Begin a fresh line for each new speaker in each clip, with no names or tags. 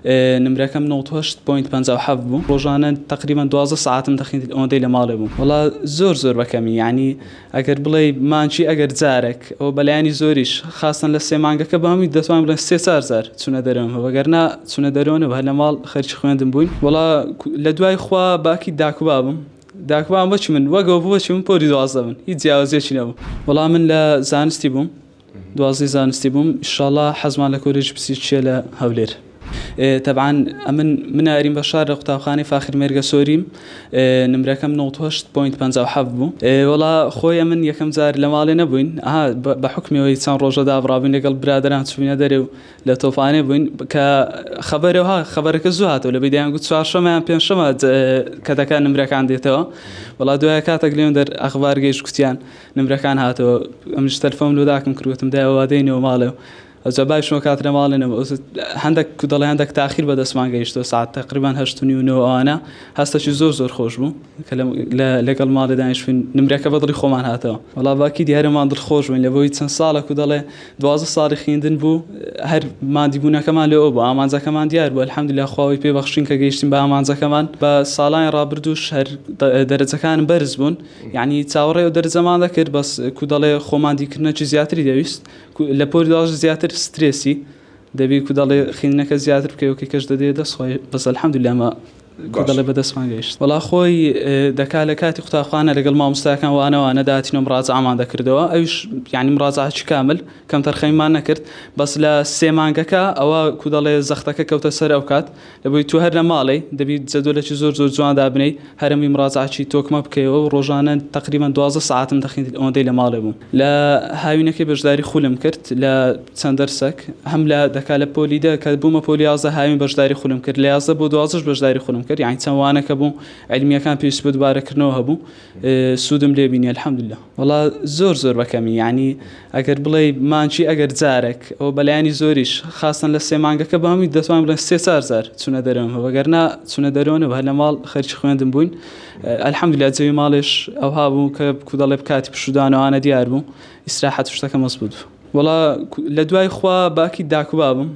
نمرەکەم نەوەد و هەشت پۆینت پەنجا و حەفت بوو ڕۆژانە تقریبا دوازدە سەعاتم دەخیند ئەوەندەی لە ماڵێ بووم وەڵا زۆر زۆر بەکەمی یعنی ئەگەر بڵێی مانکی ئەگەر جارێک ئەوە بەلایەنی زۆریش خاستەن لە سێ مانگەکە بە هەمووی دەتوان بڵێن سێ چار جار چونە دەرەوەم هەوە گەرنا چونە دەرەوە نەبوو هەر لە ماڵ خەرکی خوێندم بووین وەڵا لە دوای خوا باکی داک و بابم داک و بابم بەچی من وەگەوە بوو بەچی من پۆلی دوازدە بوون هیچ جیاوازیەکی نەبوو وەڵا من لە زانستی بووم دوازدەی زانستی بووم ئیشاڵا حەزمان لە کۆلێژی پسیچیە لە هەولێر تەبعاان ئەمن مناریم بە شار لە قوتابخانەی فاخر مێرگە سۆریم نمرەکەم 1950 بوو وڵا خۆی من یەکەم جار لە ماڵێ نەبووین بە حکمەوەی چەند ڕۆژە دابڕابووین لەگەڵ برادران چوینە دەرێ و لە تۆفاانێ بووین کە خبرەوە خبرەکە زوو هاتەوە لە بیدەیان گوت چوارشەمەیان پێنجشەمە کە دەکە نمرەکان دێتەوە وڵا دوای کاتەک لێن دەر ئەخبارگەیش کوتیان نمرەکان هاتەوە ئەمش تەلفۆم لۆ داکم کرد وتم دایە وا دێینەوە ماڵێ و ئەوجا بایش وە کاترە ماڵێ نەبوو ئەوجا هەندێک کو دەڵێ هەندێک تاخیر بە دەستمان گەیشتەوە ساعەت تقریبا هەشت و نیو نۆ ئەوانە هەستێکی زۆر زۆر خۆش بوو کە لەگەڵ ماڵێ دانیشتین نمرەکە بە دڵی خۆمان هاتەوە وەڵا باکی دیارەمان دڵخۆش بووین لە بۆی چەند ساڵە کو دەڵێ دوازدە ساڵی خوێندن بوو هەر ماندیبوونەکەمان لەوە بوو ئامانجەکەمان دیار بوو الحەمدللە خوا وەی پێ بەخشین کە گەیشتین بە ئامانجەکەمان بە ساڵانی ڕابردووش هەر دەرەجەکانم بەرز بوون یەعنی چاوەڕێ دەرجەمان دەکرد بەس کو دەڵێ خۆمان دیکردنەکی زیاتری دەویست لە پۆلی دواش زیاتر سترێسی دەبی کو دەڵێ خوێندنەکە زیاتر بکەی و کەش دەدێ دەست خۆی بەس الحمدللە ئەمە کو باش. دەڵێ بەدەستمان گەیشت وەڵا خۆی ئێ، دەکا لە کاتی قوتابخانە لەگەڵ مامۆستاکان وانەوانە دەهاتین و مڕاجەعەمان دەکردەوە ئەویش یەعنی مڕاجەعەکی کامل کەمتەرخەمیمان نەکرد بەس لە سێ مانگەکە ئەوە کو دەڵێ زەختەکە کەوتە سەر ئەوکات دەبوی تۆ هەر لە ماڵێی دەبی جەدۆلەکی زۆر زۆر جوان دابنێی هەرەمی مڕاجەعەکی تۆکمە بکەیەوە و ڕۆژانە تەقریبەن دوازدە سەعاتم دەخیند ئەوەندەی لە ماڵێ بووم لە هاوینەکەی بەژداری خولم کرد لە چەند دەرسەک هەم لە دەکا لە پۆلی دە کە بوومە پۆلی یازدە هاوین بەژداری خولم کرد لە یازدە بۆ دوازدەش بەژداری خولم کرد یانی چەند وانەکە بوو عیلمیەکان پێویست بە دوبارەکردنەوە هەبوو سوودم لێ بینی الحمدللە. وەڵا زۆر زۆر بەکەمی یاعنی ئەگەر بڵێی مانکی ئەگەر جارێک ئەوە بەلایانی زۆریش خاستن لە سێ مانگەکە بامی دەتوان بڵێن سێ چار زار چونە دەرەوە بەگەرنا چونە دەرەوەە هەر لە ماڵ خەرکی خوێندن بووین ئەلحەمدی لە جەوی ماڵێش ئەوها بوو کە کودەڵێ بکاتی پشودانەوانە دیار بوو ئیسراحەت شتەکە مەز بوو وڵا لە دوای خوا باکی داکوبابم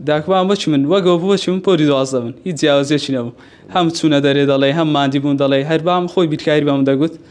داکوان بەچی من وەگەوە بووەچی من پۆری دوازدە من هیچ جیاوازێکی نەبوو هەم چوونە دەرێ دەڵێ هەم مادی بوون دەڵێ هەربام خۆی بیرکاری بەم دەگوت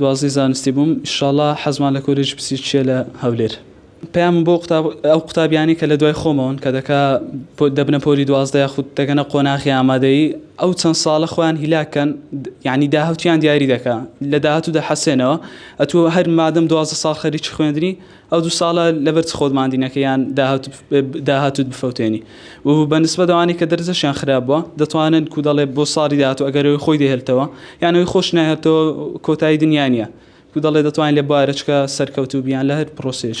دوازدەی زانستی بووم ئیشاڵا حەزمان لە کۆلێژی پسیچیە لە هەولێر پەیامم بۆ قوتاب ئەو قوتابیانی کە لە دوای خۆمەوەن کە دەکا دەبنە پۆلی دوازدە یاخود دەگەنە قۆناخی ئامادەیی ئەو چەند ساڵە خۆیان هیلاکەن یعنی داهوتیان دیاری دەکا لە داهاتوو دەحەسێنەوە ئەتوو هەر مادەم دوازدە ساڵ خەریکی خوێندنی ئەو دوو ساڵە لەبەر چ خۆت ماندی نەکەی یان داهاتوت بفەوتێنی و بە نسبەت ئەوانەی کە دەرجەشیان خراپ بووە دەتوانن کو دەڵێ بۆ ساڵی داهاتوو ئەگەر ئەوی خۆی دەهێلتەوە یان ئەوی خۆش نەهێلتەوە کۆتایی دنیا نییە کو دەڵێ دەتوانین لە بارەچکە سەرکەوتوو بیان لە هەر پرۆسەیەک